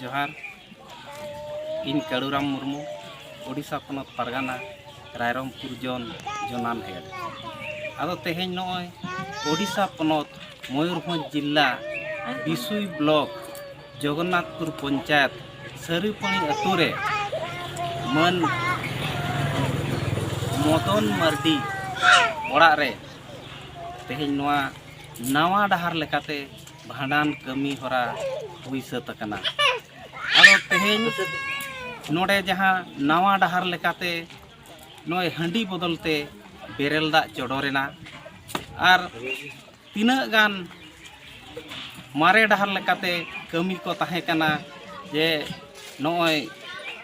ᱡᱚᱦᱟᱨ ᱤᱧ ᱠᱟᱲᱩᱨᱟᱢ ᱢᱩᱨᱢᱩ ᱳᱰᱤᱥᱟ ᱯᱚᱱᱚᱛ ᱯᱟᱨᱜᱟᱱᱟ ᱨᱟᱭᱨᱚᱝᱯᱩᱨ ᱡᱚᱱ ᱡᱚᱱᱟᱱ ᱦᱮᱰ ᱟᱫᱚ ᱛᱮᱦᱮᱧ ᱱᱚᱜᱼᱚᱭ ᱳᱰᱤᱥᱟ ᱯᱚᱱᱚᱛ ᱢᱚᱭᱩᱨᱵᱷᱚᱸᱡᱽ ᱡᱤᱞᱟ ᱵᱤᱥᱩᱭ ᱵᱞᱚᱠ ᱡᱚᱜᱚᱱᱱᱟᱛᱷᱯᱩᱨ ᱯᱚᱧᱪᱟᱭᱮᱛ ᱥᱟᱹᱨᱤᱯᱟᱹᱱᱤ ᱟᱹᱛᱩ ᱨᱮ ᱢᱟᱹᱱ ᱢᱚᱫᱚᱱ ᱢᱟᱨᱰᱤ ᱚᱲᱟᱜ ᱨᱮ ᱛᱮᱦᱮᱧ ᱱᱚᱣᱟ ᱱᱟᱣᱟ ᱰᱟᱦᱟᱨ ᱞᱮᱠᱟᱛᱮ ᱵᱷᱟᱸᱰᱟᱱ ᱠᱟᱹᱢᱤ ᱦᱚᱨᱟ ᱦᱩᱭ ᱥᱟᱹᱛ ᱟᱠᱟᱱᱟ ᱟᱫᱚ ᱛᱮᱦᱮᱧ ᱱᱚᱰᱮ ᱡᱟᱦᱟᱸ ᱱᱟᱣᱟ ᱰᱟᱦᱟᱨ ᱞᱮᱠᱟᱛᱮ ᱱᱚᱜᱼᱚᱭ ᱦᱟᱺᱰᱤ ᱵᱚᱫᱚᱞ ᱛᱮ ᱵᱮᱨᱮᱞ ᱫᱟᱜ ᱪᱚᱰᱚᱨᱮᱱᱟ ᱟᱨ ᱛᱤᱱᱟᱹᱜ ᱜᱟᱱ ᱢᱟᱨᱮ ᱰᱟᱦᱟᱨ ᱞᱮᱠᱟᱛᱮ ᱠᱟᱹᱢᱤ ᱠᱚ ᱛᱟᱦᱮᱸ ᱠᱟᱱᱟ ᱡᱮ ᱱᱚᱜᱼᱚᱭ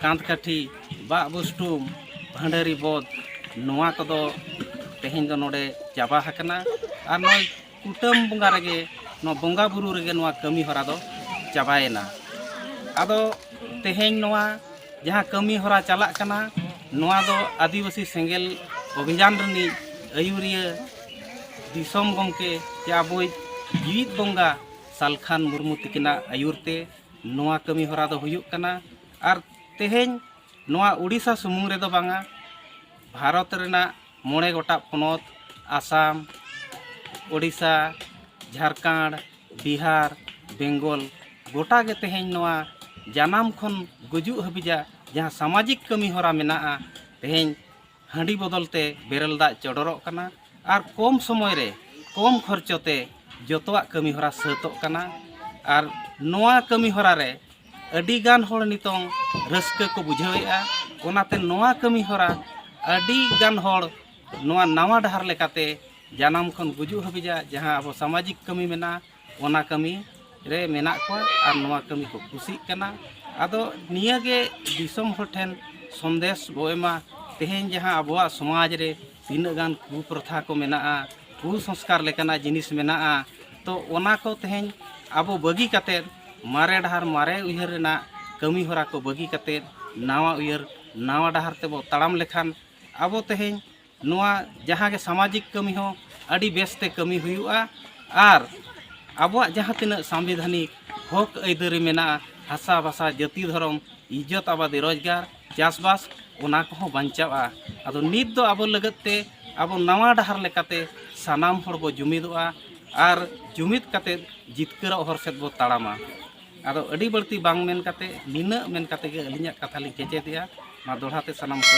ᱠᱟᱸᱛ ᱠᱟᱹᱴᱷᱤ ᱵᱟᱜ ᱵᱩᱥᱴᱩᱢ ᱵᱷᱟᱺᱰᱟᱹᱨᱤ ᱵᱚᱫᱽ ᱱᱚᱣᱟ ᱠᱚᱫᱚ ᱛᱮᱦᱮᱧ ᱫᱚ ᱱᱚᱰᱮ ᱪᱟᱵᱟ ᱦᱟᱠᱟᱱᱟ ᱟᱨ ᱱᱚᱜᱼᱚᱭ ᱠᱩᱴᱟᱹᱢ ᱵᱚᱸᱜᱟ ᱨᱮᱜᱮ ᱱᱚᱣᱟ ᱵᱚᱸᱜᱟ ᱵᱩᱨᱩ ᱨᱮᱜᱮ ᱱᱚᱣᱟ ᱠᱟᱹᱢᱤ ᱦᱚᱨᱟ ᱫᱚ ᱪᱟᱵᱟᱭᱮᱱᱟ ᱟᱫᱚ ᱛᱮᱦᱮᱧ ᱱᱚᱣᱟ ᱡᱟᱦᱟᱸ ᱠᱟᱹᱢᱤ ᱦᱚᱨᱟ ᱪᱟᱞᱟᱜ ᱠᱟᱱᱟ ᱱᱚᱣᱟ ᱫᱚ ᱟᱹᱫᱤᱵᱟᱹᱥᱤ ᱥᱮᱸᱜᱮᱞ ᱚᱵᱷᱤᱡᱟᱱ ᱨᱤᱱᱤᱡ ᱟᱹᱭᱩᱨᱤᱭᱟᱹ ᱫᱤᱥᱚᱢ ᱜᱚᱢᱠᱮ ᱥᱮ ᱟᱵᱚᱭᱤᱡ ᱡᱤᱣᱤᱫ ᱵᱚᱸᱜᱟ ᱥᱟᱞᱠᱷᱟᱱ ᱢᱩᱨᱢᱩ ᱛᱤᱠᱤᱱᱟᱜ ᱟᱹᱭᱩᱨ ᱛᱮ ᱱᱚᱣᱟ ᱠᱟᱹᱢᱤ ᱦᱚᱨᱟ ᱫᱚ ᱦᱩᱭᱩᱜ ᱠᱟᱱᱟ ᱟᱨ ᱛᱮᱦᱮᱧ ᱱᱚᱣᱟ ᱩᱰᱤᱥᱥᱟ ᱥᱩᱢᱩᱝ ᱨᱮᱫᱚ ᱵᱟᱝᱟ ᱵᱷᱟᱨᱚᱛ ᱨᱮᱱᱟᱜ ᱢᱚᱬᱮ ᱜᱚᱴᱟᱜ ᱯᱚᱱᱚᱛ ᱟᱥᱟᱢ ᱳᱰᱤᱥᱟ ᱡᱷᱟᱲᱠᱷᱚᱸᱰ ᱵᱤᱦᱟᱨ ᱵᱮᱝᱜᱚᱞ ᱜᱚᱴᱟ ᱜᱮ ᱛᱮᱦᱮᱧ ᱱᱚᱣᱟ ᱡᱟᱱᱟᱢ ᱠᱷᱚᱱ ᱜᱩᱡᱩᱜ ᱦᱟᱹᱵᱤᱡᱟᱜ ᱡᱟᱦᱟᱸ ᱥᱟᱢᱟᱡᱤᱠ ᱠᱟᱹᱢᱤ ᱦᱚᱨᱟ ᱢᱮᱱᱟᱜᱼᱟ ᱛᱮᱦᱮᱧ ᱦᱟᱺᱰᱤ ᱵᱚᱫᱚᱞ ᱛᱮ ᱵᱮᱨᱮᱞ ᱫᱟᱜ ᱪᱚᱰᱚᱨᱚᱜ ᱠᱟᱱᱟ ᱟᱨ ᱠᱚᱢ ᱥᱚᱢᱚᱭ ᱨᱮ ᱠᱚᱢ ᱠᱷᱚᱨᱪᱚ ᱛᱮ ᱡᱚᱛᱚᱣᱟᱜ ᱠᱟᱹᱢᱤ ᱦᱚᱨᱟ ᱥᱟᱹᱛᱚᱜ ᱠᱟᱱᱟ ᱟᱨ ᱱᱚᱣᱟ ᱠᱟᱹᱢᱤ ᱦᱚᱨᱟ ᱨᱮ ᱟᱹᱰᱤ ᱜᱟᱱ ᱦᱚᱲ ᱱᱤᱛᱚᱝ ᱨᱟᱹᱥᱠᱟᱹ ᱠᱚ ᱵᱩᱡᱷᱟᱹᱣᱮᱫᱼᱟ ᱚᱱᱟᱛᱮ ᱱᱚᱣᱟ ᱠᱟᱹᱢᱤ ᱦᱚᱨᱟ ᱟᱹᱰᱤ ᱜᱟᱱ ᱦᱚᱲ ᱱᱚᱣᱟ ᱱᱟᱣᱟ ᱰᱟᱦᱟᱨ ᱞᱮᱠᱟᱛᱮ ᱡᱟᱱᱟᱢ ᱠᱷᱚᱱ ᱜᱩᱡᱩᱜ ᱦᱟᱹᱵᱤᱡᱟᱜ ᱡᱟᱦᱟᱸ ᱟᱵᱚ ᱥᱟᱢᱟᱡᱤᱠ ᱠᱟᱹᱢᱤ ᱢᱮᱱᱟᱜᱼᱟ ᱚᱱᱟ ᱠᱟᱹᱢᱤ ᱨᱮ ᱢᱮᱱᱟᱜ ᱠᱚᱣᱟ ᱟᱨ ᱱᱚᱣᱟ ᱠᱟᱹᱢᱤ ᱠᱚ ᱠᱩᱥᱤᱜ ᱠᱟᱱᱟ ᱟᱫᱚ ᱱᱤᱭᱟᱹᱜᱮ ᱫᱤᱥᱚᱢ ᱦᱚᱲ ᱴᱷᱮᱱ ᱥᱚᱱᱫᱮᱥ ᱵᱚ ᱮᱢᱟ ᱛᱮᱦᱮᱧ ᱡᱟᱦᱟᱸ ᱟᱵᱚᱣᱟᱜ ᱥᱚᱢᱟᱡᱽ ᱨᱮ ᱛᱤᱱᱟᱹᱜ ᱜᱟᱱ ᱠᱩᱯᱨᱚᱛᱷᱟ ᱠᱚ ᱢᱮᱱᱟᱜᱼᱟ ᱠᱩᱥᱚᱝᱥᱠᱟᱨ ᱞᱮᱠᱟᱱᱟᱜ ᱡᱤᱱᱤᱥ ᱢᱮᱱᱟᱜᱼᱟ ᱛᱚ ᱚᱱᱟ ᱠᱚ ᱛᱮᱦᱮᱧ ᱟᱵᱚ ᱵᱟᱹᱜᱤ ᱠᱟᱛᱮᱫ ᱢᱟᱨᱮ ᱰᱟᱦᱟᱨ ᱢᱟᱨᱮ ᱩᱭᱦᱟᱹᱨ ᱨᱮᱱᱟᱜ ᱠᱟᱹᱢᱤ ᱦᱚᱨᱟ ᱠᱚ ᱵᱟᱹᱜᱤ ᱠᱟᱛᱮᱫ ᱱᱟᱣᱟ ᱩᱭᱦᱟᱹᱨ ᱱᱟᱣᱟ ᱰᱟᱦᱟᱨ ᱛᱮᱵᱚ ᱛᱟᱲᱟᱢ ᱞᱮᱠᱷᱟᱱ ᱟᱵᱚ ᱛᱮᱦᱮᱧ ᱱᱚᱣᱟ ᱡᱟᱦᱟᱸ ᱜᱮ ᱥᱟᱢᱟᱡᱤᱠ ᱠᱟᱹᱢᱤ ᱦᱚᱸ ᱟᱹᱰᱤ ᱵᱮᱥ ᱛᱮ ᱠᱟᱹᱢᱤ ᱦᱩᱭᱩᱜᱼᱟ ᱟᱨ ᱟᱵᱚᱣᱟᱜ ᱡᱟᱦᱟᱸ ᱛᱤᱱᱟᱹᱜ ᱥᱟᱢᱵᱤᱫᱷᱟᱱᱤᱠ ᱦᱚᱠ ᱟᱹᱭᱫᱟᱹᱨᱤ ᱢᱮᱱᱟᱜᱼᱟ ᱦᱟᱥᱟ ᱵᱷᱟᱥᱟ ᱡᱟᱹᱛᱤ ᱫᱷᱚᱨᱚᱢ ᱤᱡᱽᱡᱚᱛ ᱟᱵᱟᱫᱤ ᱨᱳᱡᱽᱜᱟᱨ ᱪᱟᱥᱵᱟᱥ ᱚᱱᱟ ᱠᱚᱦᱚᱸ ᱵᱟᱧᱪᱟᱜᱼᱟ ᱟᱫᱚ ᱱᱤᱛ ᱫᱚ ᱟᱵᱚ ᱞᱟᱹᱜᱤᱫ ᱛᱮ ᱟᱵᱚ ᱱᱟᱣᱟ ᱰᱟᱦᱟᱨ ᱞᱮᱠᱟᱛᱮ ᱥᱟᱱᱟᱢ ᱦᱚᱲ ᱵᱚ ᱡᱩᱢᱤᱫᱚᱜᱼᱟ ᱟᱨ ᱡᱩᱢᱤᱫ ᱠᱟᱛᱮ ᱡᱤᱛᱠᱟᱹᱨᱚᱜ ᱦᱚᱨ ᱥᱮᱫ ᱵᱚ ᱛᱟᱲᱟᱢᱟ ᱟᱫᱚ ᱟᱹᱰᱤ ᱵᱟᱹᱲᱛᱤ ᱵᱟᱝ ᱢᱮᱱ ᱠᱟᱛᱮ ᱱᱤᱱᱟᱹᱜ ᱢᱮᱱ ᱠᱟᱛᱮ ᱜᱮ ᱟᱹᱞᱤᱧᱟᱜ ᱠᱟᱛᱷᱟ ᱞᱤᱧ ᱠᱮᱪᱮᱫᱮᱜᱼᱟ ᱢᱟ ᱫᱚᱦᱲᱟ ᱛᱮ ᱥᱟᱱᱟᱢ ᱠᱚ